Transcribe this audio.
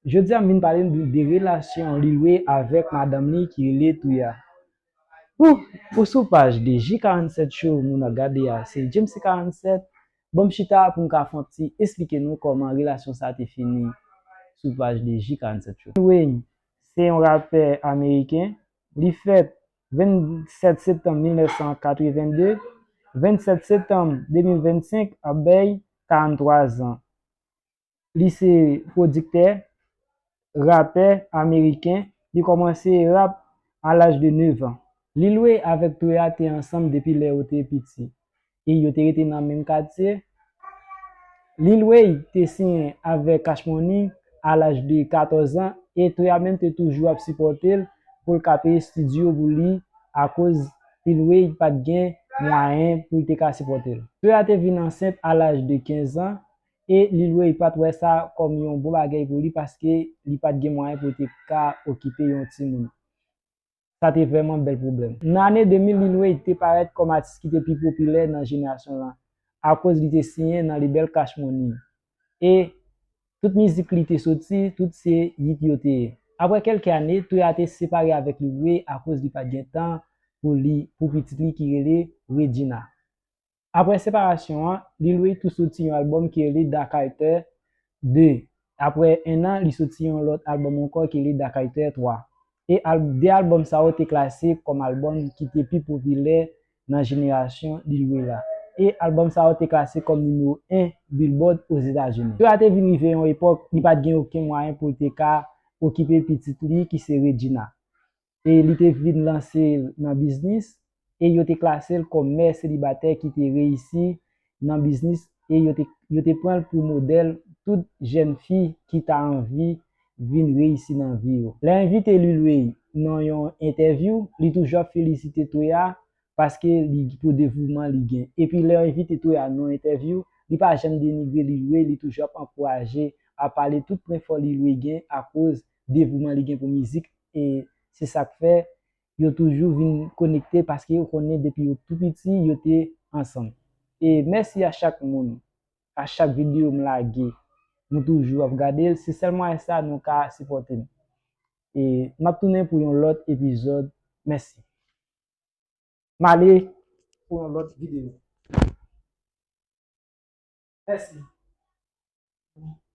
Jodi a m vin pale nou de relasyon Lil Wee avèk madanm li ki rele Touya. Ooh ou sou paj de J47 show moun ap gade a se Djemsy 47 bon m chita pou m ka fon w ti esplike nou kòman relasyon sa te fini sou paj de J47 show. Lil Wayne se yon rapè ameriken, li fèt 27 septanm 1982, 27 septanm 2025 ap bay 43 zan. Li se pwodiktè, rapè ameriken. Li kòmanse rap a laj de 9 an. Lil Wayne avèk Toure a te ansanm depi lè yo te piti e yo te rete nan menm katye. Lil Wayne te siyen avèk Cash Money a laj de 14 an e Toure a menm te toujou ap sipòte l pou l ka peye stidyo pou li akoz Lil Wayne pa t gen mwayen pou l te ka sipòte l. Toure a te vin ansent a laj de 15 an e Lil Wayne pat wè sa kòm yon bon bagèy pou li paske li pat gen mwayen pou l te ka okipe yon timoun. Sa te vrèman bèl pwoblèm. Nan ane 2000 Lil Wayne te parèt kòm atis ki te pi popilè nan jenerasyon lan akoz li te siyen nan lebèl Cash Money e tout mizik li te soti tout se yit yo te ye. Aprè kèlke ane, Toya te separe avèk Lil Wayne akoz li pat gen tan pou li pou pitit li ki rele Regina. Aprè separasyon an, Lil Wayne tou soti yon albòm ki rele Darkiter 2. Aprè ennan, li soti yon lòt albòm ankò ki rele Darkiter 3. E al 2 albòm sa yo te klase kòm albòm ki te pi popilè nan jenerasyon Lil Wayne la. E albòm sa yo te klase kòm nimewo 1 Billboard Ozetazini. Lil Wayne te vin rive yon epòk li pa t gen oken mwayen pou l te ka okipe pitit li ki se Regina. e li te vin lanse nan biznis e yo te klase l kòm mè selibatè ki te reyisi nan biznis e yo te pran l pou modèl tout jèn fi ki ta anvi vin reyisi nan vi yo. Lè envite Lil Wayne nan yon entèvyou, li toujou ap felisite Toya paske li pou devouman li gen. Epi lè yo envite Toya nan yon entèvyou, li pa janm denigre Lil Wayne, li toujou ap ankouraje, ap pale tout pwen fò Lil Wayne gen akoz devouman li gen pou mizik e se sa k fè yo toujou vin konekte paske yo konnen depi yo tou piti yo te ansanm e mèsi a chak moun a chak videyo m lage nou toujou ap gade l se sèl mwayen sa nou ka sipòte m e m ap tounen pou yon lòt epizòd mèsi m ale pou yon lòt videyo mèsi.